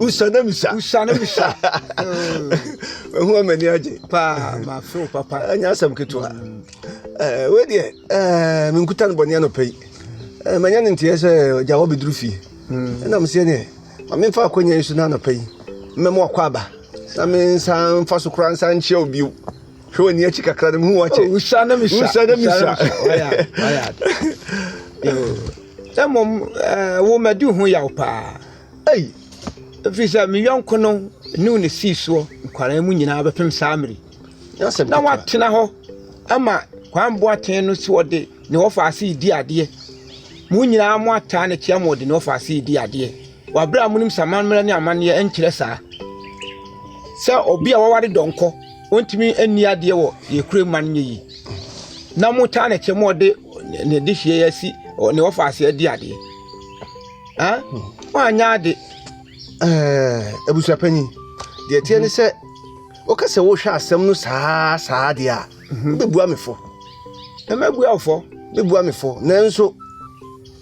usa na misa usa na misa ɛho amani agye paa mafew papa ɛnyɛ asɛm ketewa wei deɛ menkuta no bɔne anɔpa yi manya no nteɛ sɛ ɔgya wɔ bɛduru fie ɛnam seɛ neɛ ma memfa akwanya yi so no anɔpa yi mmɛma wakɔ aba na mensa mfa so koraa nsa nkyea wo bio hwɛ w'ani akyi kakra no mehu wakyɛ usa na misa usa na misa mmom wo madi ho yaw paa Ei! Ɛfiri sɛ me yɔnko no ne wo na sii soɔ nkwaraa mu nyinaa bɛpem saa mmere yi, na woatena hɔ ama Kwame Boateng no sɛ ɔde ne wɔfaase redi adeɛ. Mo nyinaa mo ataa no kyea ma ɔde ne wɔfaase redi adeɛ. Wɔabrɛ a monim sɛ amammerɛ ne amanneɛ nkyerɛ saa. Sɛ obi a waware dɔnkɔ, ɔntumi nni adeɛ wɔ yɛn kurom ma no nyɛ yi. Na motaa no kyɛ ma ɔde ne dehyeɛ asi ne wɔfaase adi adeɛ. ah woanyɛ ade eh, abusuapanyin deɛ ɛteɛ ne sɛ woka sɛ wohwɛ asɛm no saa saa deɛ a wobɛbua me fo na mabua wo fɔ bɛbua me fo nanso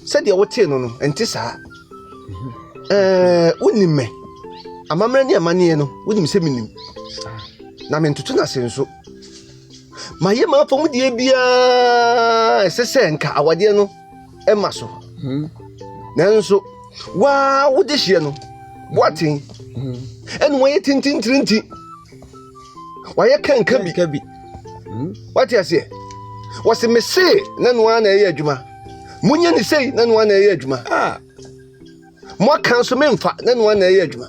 sɛdeɛ wotee no no ɛnte saa wonim me amammerɛ ne amanneɛ no wonim sɛ menim na mentoto no ase nso mayɛ m'afɔmudeɛ biara ɛsɛ sɛ nka awadeɛ no mma so. Hmm. Nanso waa wode hyeɛ no boaten hmm. ɛna wɔyɛ tintintirinti wɔayɛ kanka bi ka bi hmm. wate aseɛ wɔse mesee na noa na ɛyɛ adwuma monyɛ ne sei na noa na ɛyɛ adwuma ah. moaka nso memfa na noa na ɛyɛ adwuma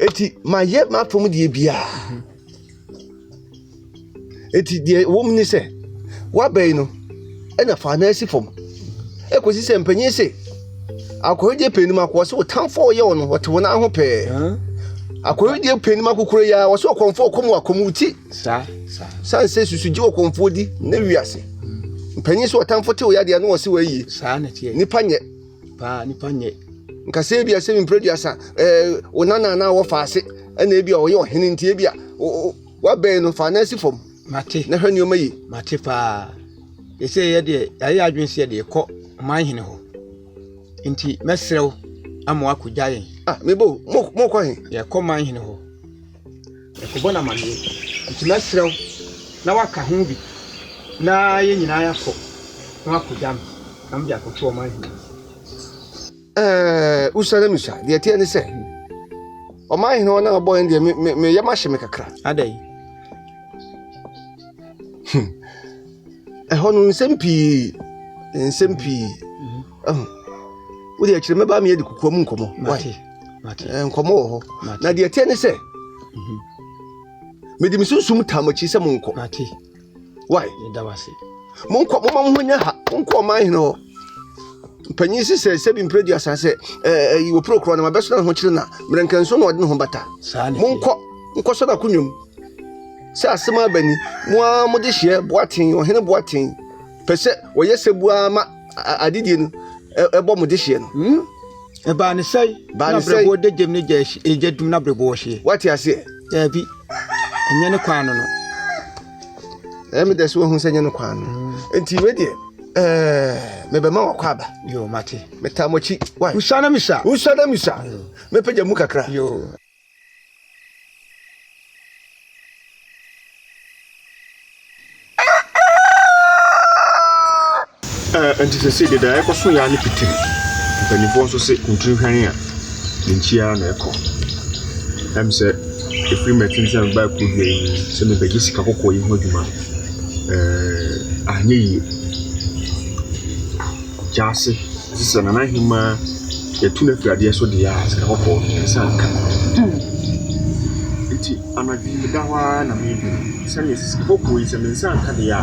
ɛti mayɛ m'afam deɛ biara eti deɛ ɛwɔ mu ne sɛ woaba yi no ɛna fa nan si fam ɛkɔsi sɛ mpanyin se akɔhwɛdeɛ pɛ anim akɔ sɛ ɔtamfoɔ ɔyɛ wɔn wɔte wɔn ho pɛɛ akɔhwɛdeɛ pɛ anim akokoro yi a wɔsɛ ɔkɔmfoɔ ɔkɔm wɔ akɔm ti san sɛ susugye wɔ kɔmfoɔ di na wiase mpanyin sɛ ɔtamfoɔ te ɔyɛ adeɛ na wɔse wɔayie nipa nyɛ paa nipa nyɛ nkasa ebi asɛm mpere duasa ɛɛ wo nana anaa wɔfa ase ɛna ebi a ɔyɛ ɔhene nti ebi a wabɛn no fa n'asi fam mate na hwɛ nneɛma yi mate paa ɛsɛ yɛ deɛ yɛayɛ adwene sɛ yɛde kɔ ɔman hene hɔ nti mɛsrɛ wo ama wakɔgya yɛn ah mebo mokɔ he yɛkɔ man hene hɔ Yɛkɔbɔ no amaneɛ nti mɛsrɛ wo na woaka ho bi na yɛn nyinaa yɛakɔ na woakɔgya me na mede akɔto ɔman hene no so. Usa na Musa, deɛ ɛteɛ ne sɛ ɔman hene hɔ na abɔ yɛn deɛ meyɛ mahye me kakra. Adɛn? Hmm. Ɛhɔ no nsɛm pii nsɛm pii wode akyerɛ mɛba meyɛ de kokoa mu nkɔmmɔ nkɔmmɔ wɔ hɔ na deɛ ɛteɛ ne sɛ mhm. mede me sunsum tam akyi sɛ monkɔ wai monkɔ moma mo ho nya ha monkɔ ɔman hene hɔ mpanyin si sɛ sɛbi mpere du asa sɛ ɛɛ wɔ puro korɔ na wabɛsona ne ho kyerɛ na mmerɛnkɛnso na ɔde ne ho bata monkɔ nkɔ sɔ na konwam sɛ asɛm abani mo a mode hyeɛ boaten ɔhene boaten pɛ sɛ wɔyɛ sɛ bua ma adedie no bɔ mo dehyeɛ no. Hmm? Ɛbaa ne sɛe na berɛboɔ da gyam no gya ɛgya dum na berɛboɔ hyeɛ. Wate aseɛ? Daabi. Ɛnyɛ ne kwan no no. Ɛyɛ me dɛ sɛ wahu sɛ ɛnyɛ ne kwan no. Hmm. Nti wei deɛ mebɛma wakɔ aba. Yo, mate. Metaa mo akyi. Why? Usa na misa. Usa na misa. Mepɛgya mu kakra. Yo. nti sɛ sɛ deda ɛkɔ so yɛ ne pitiri mpanimfoɔ nso se ntiri hwan a ne nkyia na ɛkɔ ɛm sɛ ɛfiri mɛten sɛ meba ɛkɔ dua yi sɛ mebɛgye sika kɔkɔɔ yi ho adwuma ɛɛ anyɛ yie Gyaase, ɔse sɛ Nana Ahemaa yɛtu no afiri adeɛ so deɛ a sika kɔkɔɔ no yɛn nsa nka. Nti anadwo yi meda hɔ ara na medwene sɛdeɛ sɛ sika kɔkɔɔ yi sɛ me nsa nka deɛ a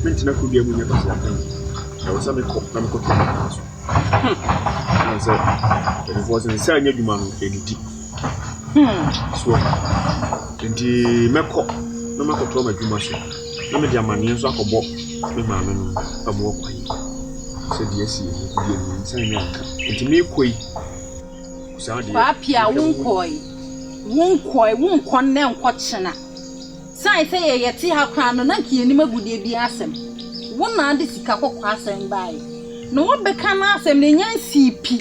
mentena kuro biara mu nyɛ Kwasi Apɛn. Ɛwɔ sɛ mekɔ na mekɔ tɔ Nana so. Ɛne sɛ mpanimfoɔ sɛ nsa nyɛ adwuma no ɛdidi. So nti mɛkɔ na makɔtɔ m'adwuma so. na mede amanneɛ nso akɔbɔ me maame no ma wɔakɔ yi sɛ deɛ asi yɛ no deɛ me nsa nyɛ anka nti meekɔ yi saa deɛ paapia wonkɔe wonkɔe wonkɔ nnɛ nkɔ kyena sane sɛ yɛyɛ te ha koraa no na nka yɛnim agudeɛ bi asɛm wo naa de sika kɔkɔ asɛm baeɛ na wabɛka no asɛm na ɛnya nsii pi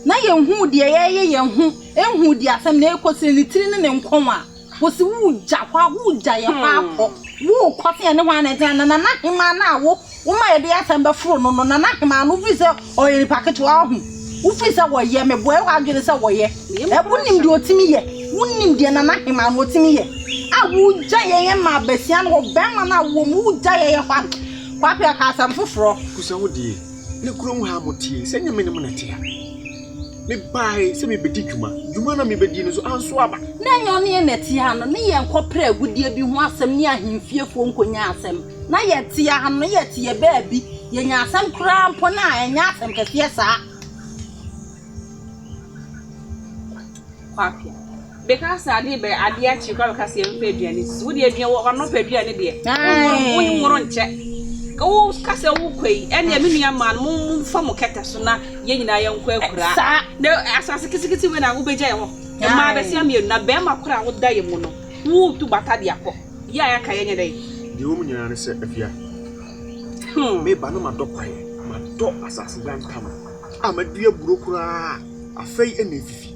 na yɛnhu deɛ yɛyɛ yɛn ho ɛnhu deɛ asɛm na ɛkɔ sɛ ne tiri ne ne nkɔn a Wɔsi wo gya hɔ a, wo gya yɛ hɔ ara kɔ. Wo kɔ se ɛne hwan na ɛtena, na Nana Hemaa no a wo wo ma yɛde asɛm bɛforo no no, Nana Hemaa no, wofiri sɛ ɔyɛ nipa ketewa, woahu? Wofiri sɛ wɔyɛ, meboa wo adwene sɛ wɔyɛ. Ɛ, wonim deɛ ɔtumi yɛ? Wonim deɛ Nana Hemaa no ɔtumi yɛ? A, wo gya yɛ yɛn ma basia no, ɔbarima no a wowɔ mu, wo gya yɛ yɛ hɔ a, Kwapea, ka asɛm foforɔ. Busa wo deɛ, na kurom ha a moteɛ yi, sɛ ɛnyɛ me ne mo na ɛte ha. Mebae sɛ mebedi dwuma. Dwuma na mibedii no nso ansow aba. Ná ɛnyɛ ɔne yɛn na ɛte ha no ne yɛn kɔpere agudeɛ bi ho asɛm ne ahemfiefoɔ nkonnwa asɛm. Ná yɛte ha no, na yɛte yɛn baabi, yɛnya asɛm koraa mpo no a, ɛnyɛ asɛm kɛseɛ saa. Kwapea. Beka sɛ ade rebɛyɛ ade akye koraa bɛka sɛ yɛmfa aduane sisi wo deɛ aduane wɔ ano pɛ aduane deɛ wonworo nworo nkyɛ wo ka sɛ wokɔ yi ɛnna me nua maa no mo mo fa mo kɛtɛ so na yɛn nyinaa yɛn kɔ akura saa na asase kitikiti wei na wobɛgya yɛn hɔ mmaa bɛsia mmienu na bɛrima koro a woda yɛ mu no wotu bata de akɔ yɛ a yɛaka yɛnyɛ dɛ deɛ wɔn nyinaa ne sɛ afia hmm. meba na madɔ kwaeɛ madɔ asase yantama a madua buro koraa Afei na efifi.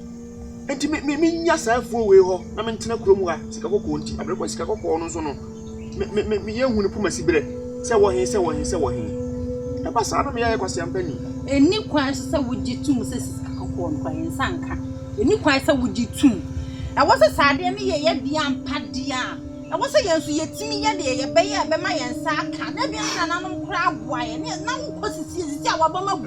Enti me, me, menya saa afuo wei hɔ na mentena kurom ha sika kɔkɔɔ nti. Abrɛ kɔ sika kɔkɔɔ no nso no, me, me, me, me yɛnhu ne poma si berɛ sɛ wɔ he, sɛ wɔ he, sɛ wɔ he. Ɛba saa na me yɛyɛ kwasia mpanin. Ɛni kwan nso sɛ wogye tum sɛ sika kɔkɔɔ no kwan nsa nka. Ɛni kwan sɛ wogye tum. Ɛwɔ sɛ saa adeɛ no yɛ yɛ deɛ ampa deɛ a, ɛwɔ sɛ yɛn nso yɛtumi yɛ deɛ yɛbɛyɛ a ɛbɛma yɛn nsa aka. Na ebia ne nananom koraa aboa yɛn. Ne, na wokɔ sisi, sisi a wabam agu.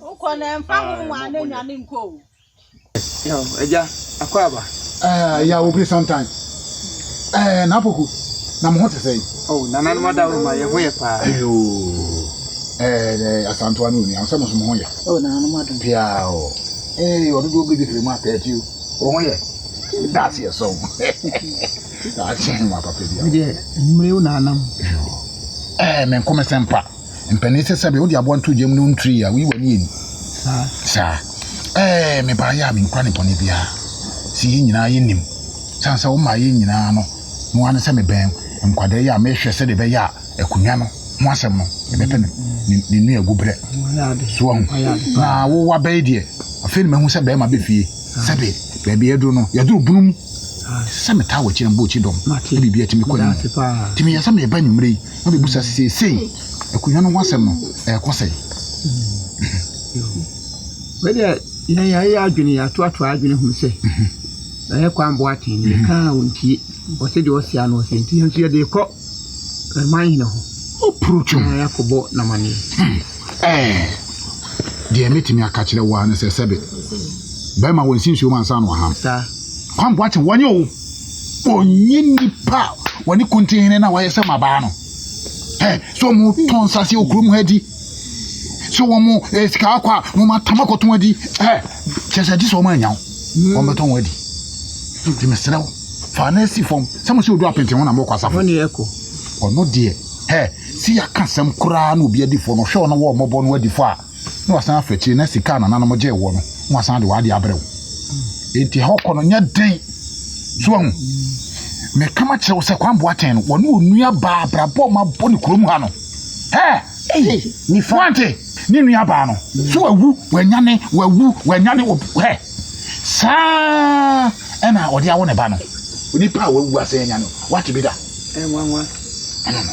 Wokɔ no ɛmfa ho hwan na nya no nkɔ o. Yaw agya akwaaba. Ɛɛ yaw obi sometimes. Ɛɛ Napoku na mo ho te sɛn? Oh nananom adaworoma yɛ ho yɛ paa. Ayoo ɛɛ asantoa ne onua sɛ mo nso mo ho yɛ. Oh nananom adom. Piaa o. Ee ɔdodoɔ bere bi firi mu atɛɛti o. Wo ho yɛ? That's yɛ sɔn. Akyɛn mo apapa bi a. Medeɛ mmerɛ wo nanam. Ɛɛ me nko me sɛmpa. Mpanin sɛ sɛbe wode aboa no too gya mu na ɔntirii a, woyi w'ani ani. Saa. Ɛɛ, me baa yɛ a menkura ne bɔne biara. Sɛ yɛn nyinaa yɛnim. Sane sɛ womaa yɛn nyinaa no, no ara ne sɛ mebɛn nkwadaa yi a mehwɛ sɛdeɛ ɛbɛyɛ a akonnwa no ho asɛm no, ɛbɛpɛ ne, ne, ne nua agu berɛ. So wahu? Na wo waba yi deɛ, afei na mahu sɛ bɛrima bɛ fie. Sɛbe, baabi a yɛduru no, yɛduru bunu mu. Sɛ metaa wɔ akyi na mebɔ akyi dɔm, na biribi atumi kɔ anim. Nti meyɛ sɛ mereba anwummerɛ yi. na ɔbɛbisa sɛ seesei akonnwa no ho asɛm no ɛrekɔ sɛn. Wei deɛ yɛn yɛayɛ adwene yɛatoatoa adwene hunu sɛ ɛyɛ kwan boa tee ne yɛka a ɔntie ɔsɛ deɛ ɔsɛ ano ɔsɛ nti yɛn nso yɛde kɔ ɛman hene hɔ ɔporokyom na yɛakɔbɔ namaneɛ deɛ mɛtumi aka kyerɛ wo a no sɛ sɛbe bɛrima wɔ nsi nsuo mu ansa na ɔham kwan boa tee wɔnyɛ o ɔnyi nnipa a wɔne kuntin hene no a wɔayɛ sɛ mmabaa no ɛ sɛ wɔtɔn nsase wɔ kurom ha di sɛ wɔn eh, sika akɔ a wɔn atam akɔtɔn adi ɛ kyerɛ sɛ gye sɛ wɔn anyaw wɔn bɛtɔn wɔn adi nti mesrɛ wo fa na asi fam sɛ mo sɛ odu apenten ho na mokɔ asafo ɔno deɛ ɛ si yɛaka sɛm koraa na obi adifo no hwɛ ɔno wɔ ɔmmɔbɔ no adifo a na wasan afa akyire na sika a nananom gyee woɔ no na wasan de w'adeɛ abrɛ wo enti ɛhɔ kɔ no nyɛ den so ahu meka ma kyerɛ wo sɛ Kwame Boateng no wɔne onua baa abrabɔ ma bɔ ne kurom ha no hɛ wante ne nua baa no so wawu wanyane wawu wanyane hɛ saa ɛna ɔde awo ne ba no onipa a wawu asɛ anyane wate bi da ɛnwanwa ɛna no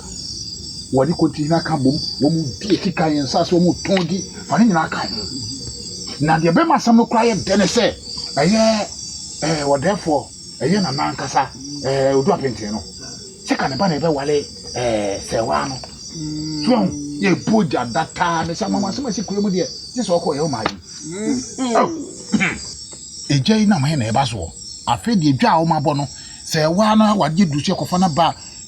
Wɔde kontihina ka bom, wɔdi akyikan, nsase a wɔtɔn di fa ne nyinaa ka ho. Na deɛ ɛbɛma asɛm no koraa yɛ dɛ ne sɛ ɛyɛ ɛɛ ɔdɛɛfoɔ, ɛyɛ nana ankasa ɛɛ Odu Apentee no. Sɛ ka ne ba na ɛbɛwale ɛɛ sɛwaa no. So ahu? Yɛbɔ gya da taa ne sɛ ama asɛm asi kura mu deɛ gye sɛ ɔkɔ yɛ ɔmaa yi. Egya yi nam he na ɛba soɔ. Afei deɛ dwa a wɔabɔ no, sɛwaa no awadeɛ duru so yɛkɔfa no ba a,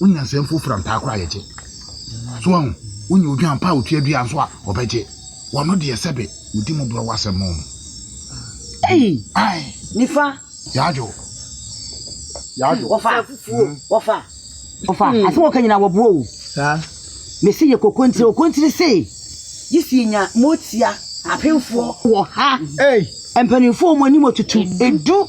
Wonya nsɛm foforo a ntaa koraa yɛgye. So wahu? Wonya odwan pa a otua dua nso a ɔbɛgye. Wɔno deɛ sɛbe wodi mo borɔw asɛm ma wɔn. Ei! Ae! Nifa! Yadwo! Yadwo! Wɔfa! Fufuo! Wɔfa! Wɔfa! Asɛm wɔka nyinaa wɔboa o. Saa. Mese yɛ kokontire okontire se. Gye sɛ yɛnya motia apemfoɔ. Wɔ ha. Ei! Mpanimfoɔ wɔn anim atutu. Edu!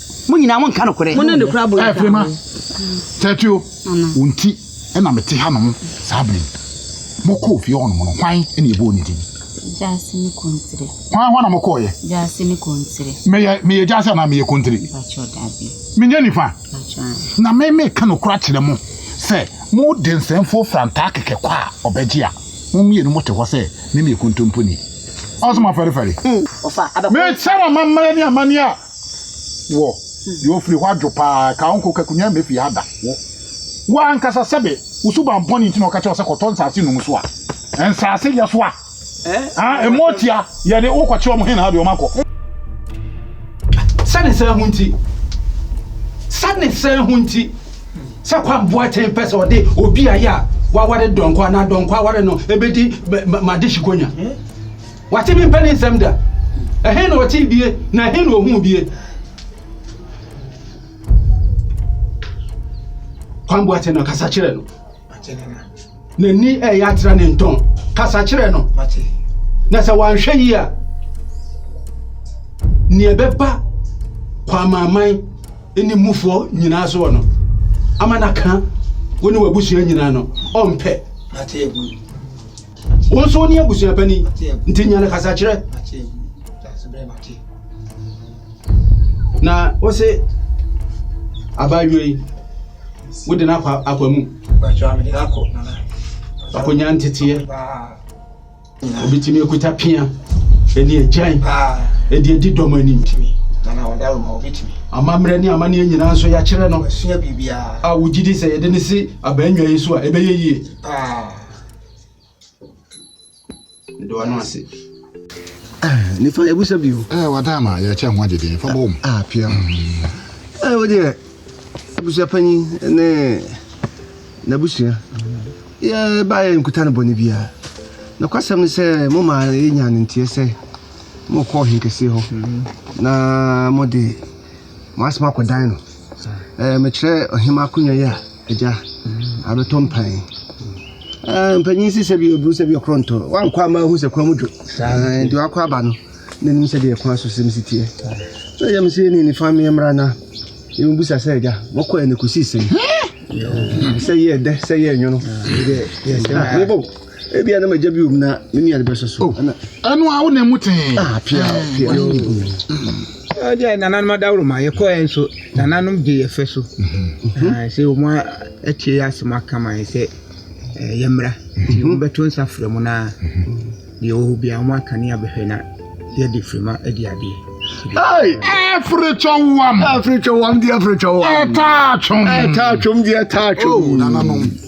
Mo nyinaa monka nokorɛ. Mo ne no kura bɔn atwa ho. Tertio, wo nti na mete hanom saa berɛ yi. Mokɔɔ fie hɔnom no, hwan na yɛbɔɔ ne din? Gyasi ne Kontire. Hwan hɔ na mokɔeɛ? Gyasi ne Kontire. Meyɛ, meyɛ Gyasi anaa meyɛ Kontire? Mpakyɛw, dabi. Menyɛ nifa? Mpakyɛw. Na me meka nokorɛ akyerɛ mo sɛ mo densɛnfoɔ fira ntaa kɛkɛ kɔ a ɔbɛgye a, mo mmienu mote hɔ sɛ me meyɛ kontomponi. Ɔso moafɛrefɛre? Mekyerɛ mo amammerɛ ne amanneɛ a Wo, deɛ ɔfiri hɔ adwo pa ara, ka wo nko, ka kunyaa mmɛfie ha da. Wo, wo ara ankasa sɛbe wo suban bɔne nti na ɔka kyerɛ wo sɛ kɔtɔ nsaase num so a, nsaase yɛ so a, ah, ɛmmɔ atua, yɛde wo kɔkyerɛ wɔn henaa deɛ wɔakɔ. Sɛne saa ho nti, sɛne saa ho nti, sɛ Kwame Boateng pɛ sɛ ɔde obi a yɛ a waware dɔnkɔ anaa dɔnkɔ aware no ɛbɛdi Madehye Konya. Wate me mpa ne nsɛm da? Ɛhe na ɔtee bie, na ɛhe na ohuu bie? Kwan Boateng no kasa kyerɛ no. N'ani ɛyɛ atra ne ntɔn. Kasa kyerɛ no. Na sɛ wanhwɛ yi a, nea ɛbɛba kwamaaman ne mufoɔ nyinaa soɔ no, ama no aka wo ne w'abusua nyinaa no, ɔmpɛ. Wo nso wone abusua pani nti nya no kasakyerɛ. Na wo se abaayewa yi wode no akɔ akwa mu. Akonya nteteɛ. Obi tumi akuta pia ɛne agyan ɛde adi dɔm anim. Amammerɛ ne amanneɛ nyinaa nso yɛakyerɛ no a wogye di sɛ yɛde no si abaa nnwa yi so a ɛbɛyɛ yie. mede wano ase nifa ebusa bi o eh wada ma yɛ kyɛ ho agyede fa bom ah pia mm. eh wo deɛ abusua panyin ne n'abusua yɛ ba yɛ nkuta no bɔne biara na kwasɛm ne sɛ mo ma yɛnya ne nteɛ sɛ mo kɔ ɔhen kɛseɛ hɔ mm. na mo de mo asɛm akɔdan no eh mekyerɛ ɔhema akonnwa yi a Agya, abɛtɔ mpan. Ah, mpanyin si sɛ bi oburu sɛ bi ɔkorɔ ntɔ. Wankɔ ama ahu sɛ kwan mu dwo. Saa nti wakɔ aba no. N'anim sɛ deɛ kwan so sɛm si teɛ. Na agya me sɛ ne nifa me mmra na. Yɛn bisa sɛ agya, mɔkɔ ɛne kɔsi sɛn. Sɛ yɛ dɛ, sɛ yɛ nwono. Yɛ sɛm. Mobɔ. Ebi a na magya bi wom na me nua de bɛhyɛ so. Oh, ɛno a wo na mu tee. Ah, pia, eh, pia. Ɛdi a nananom adaworo ma yɛkɔɛ nso nananom gye yɛfɛ so. Mhm. Ah, sɛ wɔn atie yɛ asɛm aka ma yɛ sɛ eh, yɛmmra. Nti mhm. wɔbɛto nsa frɛ mu na mhm. deɛ wɔwɔ bia wɔn aka ne abɛhwɛ na yɛde firima adi adeɛ. Every chowam. Every chowam, dear, every chowam. Etachum. Etachum, dear, etachum. Oh, nananom.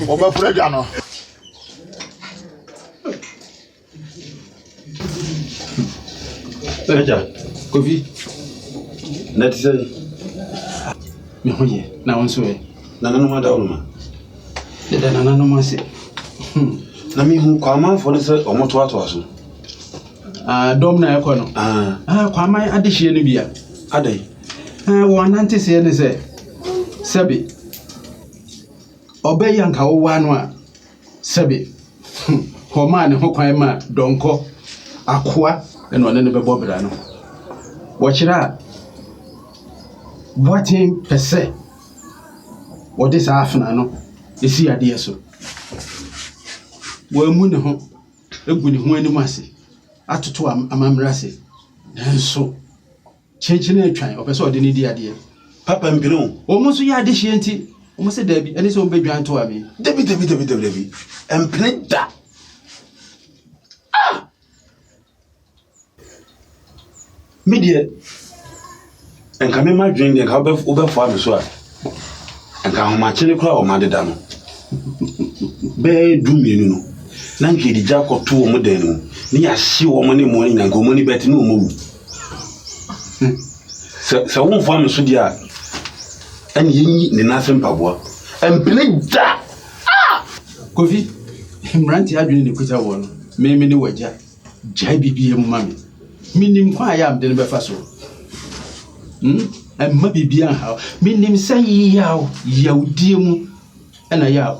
Wɔbɛforo adwa no. Agya, Kofi, na te sɛ me ho yɛ na wo nso ɛ. Nananom ada wo noma. Deda nananom ase. Hmm. Na mehu kwamanfoɔ no sɛ ɔmotoatoa so. Ah, dɔm na ɛkɔ no. Ah. Ah, kwaman adehyeɛ no bia. Adɛn? Ah, wɔn ananteseɛ ne sɛ sɛbe ɔbɛyɛ anka wowaa no a, sɛbe hmm, wɔmaa ne ho kwan ma dɔnkɔ, akoa na ɔne no bɛbɔ bra no. Wɔkyerɛ a boaten pɛ sɛ wɔde saa afena no si adeɛ so. Wɔamu ne ho agu ne ho anim ase atoto amammerɛ ase nanso Kyenkyenee twan, ɔpɛ sɛ ɔde no di adeɛ. Papa mpene wo. Wɔn nso yɛ adehyeɛ nti, wɔn sɛ daabi, ɛne sɛ wɔn bɛdwan toa me. Dabi, dabi, dabi, dabi, dabi. Ɛmpene da. Ah! Me deɛ, nka me ma dwen deɛ, nka wobɛfoa me so a. Anka ahomakye no koraa a wɔade da no bɛyɛ du mmienu no, na anka yɛde gya akɔto wɔn dan no mu, na yɛahye wɔn ne mmoa no nyinaa, anka wɔn ani bɛte na wɔawu. Hmm. Sɛ sɛ womfoa me so deɛ a, ɛne yɛnyi ne nan ase mpaboa. Ɛmpene da! Ah! Kofi, mmerante adwene ne kuta wɔ no, meme ne wagya. Gyae biribiara mu ma me. Menim kwan a ɛyɛ a mede no bɛfa so. Hmm? Ɛmma biribiara nhaw. Menim sɛ yaw, yawdie mu ɛna ɛyɛ a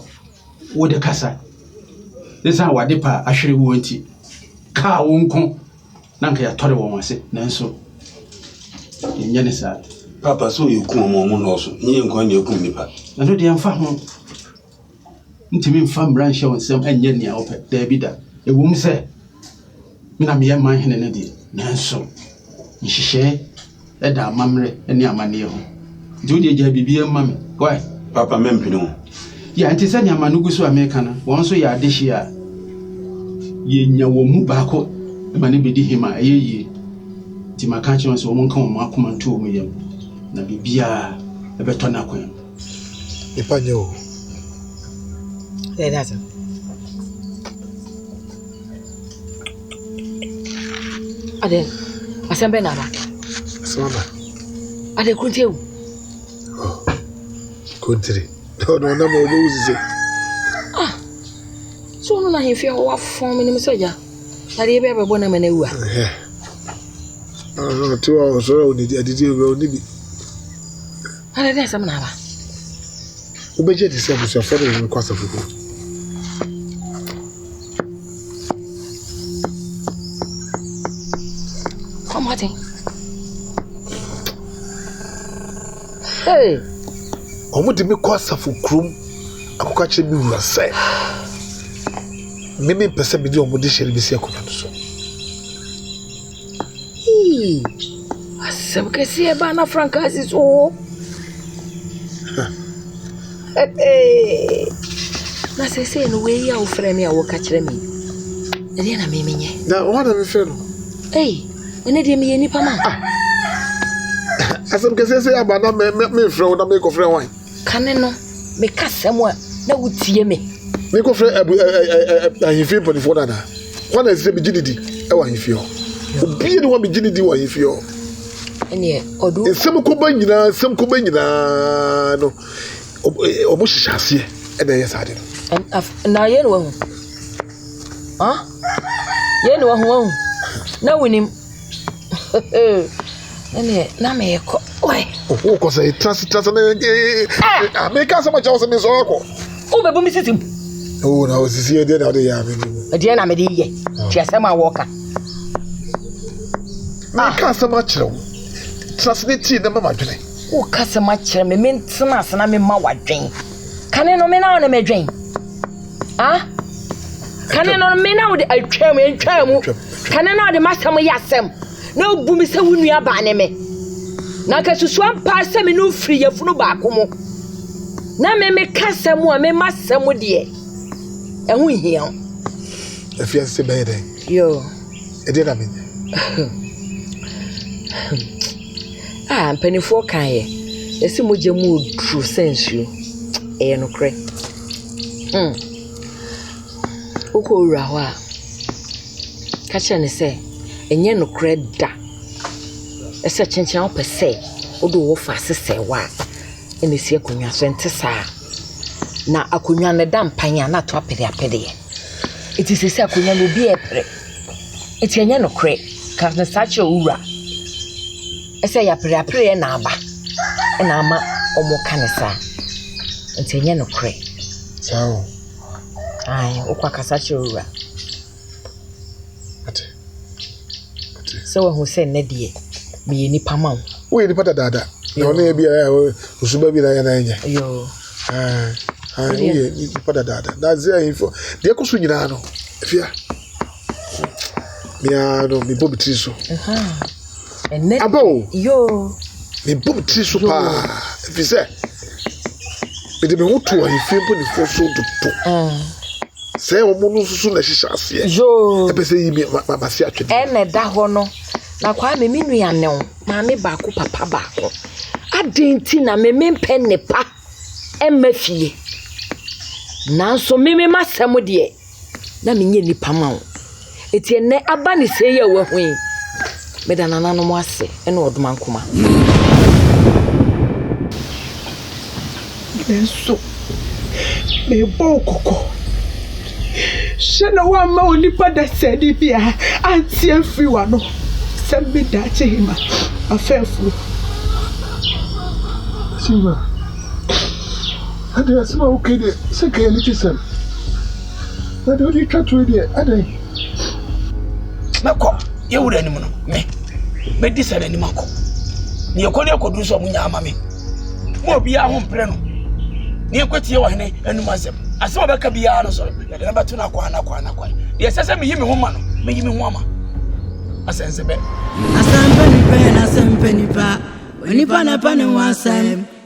wode kasa. Ɛsiane wade pa a ahwere woɔ nti, kaa wo nko na nka yɛatɔre wɔn ase. Nanso, yɛnyɛ ne saa. Papa, so yɛkum wɔn a wɔnnɔɔso? Nyɛ nkoa na yɛkum nnipa. Ɛno deɛ ɛmfa ho. Ntumi mfa mmara nhyɛ wo nsam nyɛ nea wopɛ. Daabi da. Ɛwom sɛ me na meyɛ man hene no deɛ, nanso nhyehyɛe da amammerɛ ne amanneɛ ho. Nti wo deɛ gyae biribiara mu ma me. Wai? Papa, mɛmpene wo. Ya, nti sɛ nneɛma no gu so a meka no, wɔn nso yɛ adehye a yɛnya wɔn mu baako ma no bɛdi him a, ɛyɛ yie. Nti maka akyerɛ wɔn sɛ wɔnka wɔn akoma nto wɔn yam, na biribiara bɛtɔ n'akwan mu. Nipa nyɛ o. Dɛ dɛ asɛm. Adɛ asɛm bɛ na aba. Asɛm aba. Adɛ kunti ewu. Oh, kuntiri. Ɔno ɔnam a ɔbɛwu sise. Ah, so ɔno na ahemfie hɔ wafɔn me nim sɛ gya. Na deɛ bɛyɛ bɛbɔ na mɛ na ewu a. Ɔno ɔte hɔ a ɔsɔre a ɔnidi adidi ewura ɔni bi. Adɛn ne asɛm na aba? Wobɛgye adi sɛ abusuafoɔ de wɔn rekɔ asafo kuo? Kɔ mmɔden. Hey! Wɔde me kɔ asafo kurom akɔka kyerɛ me wura sɛ me mempɛ sɛ mede wɔn de hyɛ no bɛsi akonnwa no so. Eii! Asɛm kɛseɛ baa na frankaa si so oo. Na seesei no wei a wofrɛ me a woka kyerɛ me ɛdeɛ na me menyɛ. Na wɔn na mefrɛ no. Ei, ɛne deɛ meyɛ nipa ma. Ah. Asɛm kɛseɛ sɛ aba na mefrɛ wo na mekɔfrɛ wɔn. Kane no, meka asɛm a, na wotie me. Menkɔfrɛ abu ɛ ɛ ɛ ahemfie mpanimfoɔ no anaa? Hwan na ɛsɛ sɛ megye no di wɔ ahemfie hɔ? Obiara ni hɔ a megye no di wɔ ahemfie hɔ. Ɛneɛ ɔduru. Nsɛm kɔba nyinaa, nsɛm kɔba nyinaa no, wɔn hyehyɛ aseɛ ɛna ɛyɛ saa de no. Na yei na wahu. Yei na wahu wahu. Na wonim. ɛneɛ na mekɔ wokɔ sɛ trase trase na meka sɛ makyɛ wo sɛ mesɔre kɔ wobɛbu me sisim o na ɔsisi ɛdeɛ na wode yɛ ame no ɛdeɛ na mede yɛ nti asɛm a wɔka meka asɛm akyerɛ wo trase ne tie na ma madwene woka asɛm akyerɛ me mentena ase na mema wadwen kane no me na wo ne medwen Ah? Kane no, me na wode atwam, ntwaa mu. Kane no a ɔde m'asɛm yɛ asɛm na obu me sɛ wo nua baa ne me. Na nka susu ampa sɛ me ne wo firi yafunu baako mu. Na me meka asɛm a mema asɛm deɛ ɛho nhia wo. Afia sɛ bɛyɛ dɛn? Yo. Ɛdeɛ na menyɛ. ah, mpanimfoɔ kaeɛ. Ɛsi mogya mu oduru sɛ nsuo. Ɛyɛ nokorɛ. Wokɔ wura hɔ a, ka kyerɛ no sɛ ɛnyɛ nokorɛ da sɛ kyekyea a wopɛ sɛ wode wo fa ase sɛe hɔ a, ɛna ɛsi akonnwa so. Ɛnte saa. Na akonnwa no, ɛda mpan a, na ato apereapereɛ. Nti seesei akonnwa no, obi repere. Nti ɛnyɛ nokorɛ. Ka no saa kyerɛ wo wura. sɛ yɛapereapereɛ na aba na ama wɔka no saa nti ɛnyɛ nokorɛ ae wokɔ akasa kyerɛ wo wura sɛ wahu sɛ nnɛ deɛ meyɛ nipa ma wo woyɛ nipa dadaada na ɔne yɛ biara ɔsuba bi na yɛ na ɛnyɛ woyɛ nipa dadaada na sɛ ɛyifo deɛ ɛkɔ so nyinaa no fia meaa no mebɔ me tiri so Aba o, mebɔ me tiri so paa ɛfiri sɛ mede me ho to ahemfie mpanimfoɔ so dodo sɛ wɔn no nso so na ɛhyehyɛ aseɛ ɛpɛ sɛ yi mase atwene ɛna ɛda hɔ no na kwame me nua ne wo maame baako papa baako adɛn nti na me mempɛ nnepa ɛmma fie nanso me me masɛm deɛ na menyɛ nnipa ma wo. Enti ɛnɛ aba ne sɛi a wahu yi, meda nananom ase ne ɔdomankoma. Me nso, mebɔ wo kɔkɔ. Hyɛ na woamma onipa dasani biara ante afiri w'ano sɛ me daakye hema, m'afɛɛfoɔ. Tima. Adɛn, asɛm a woka yi deɛ, sɛ ɛka yɛn anigyesɛm, na deɛ wode retwa toɔ yi deɛ, adɛn? Mɛkɔ yɛn wura anim no, me mɛdi sɛ n'anim akɔ. Ne yɛkɔ ne yɛkɔduru sɛ ɔmo nyaa ama me. Mo a obiara ho mpere no, ne yɛnkɔtie ɔhene anim asɛm. Asɛm a ɔbɛka biara no so, yɛde no bɛto n'akwan n'akwan n'akwan. Deɛ ɛsɛ sɛ meyi me ho ma no, meyi me ho ama. Asɛnsɛbɛ. Asɛmpɛ nipa yɛ n'asɛmpɛ nipa, onipa na ɛpɛ ne ho asɛm.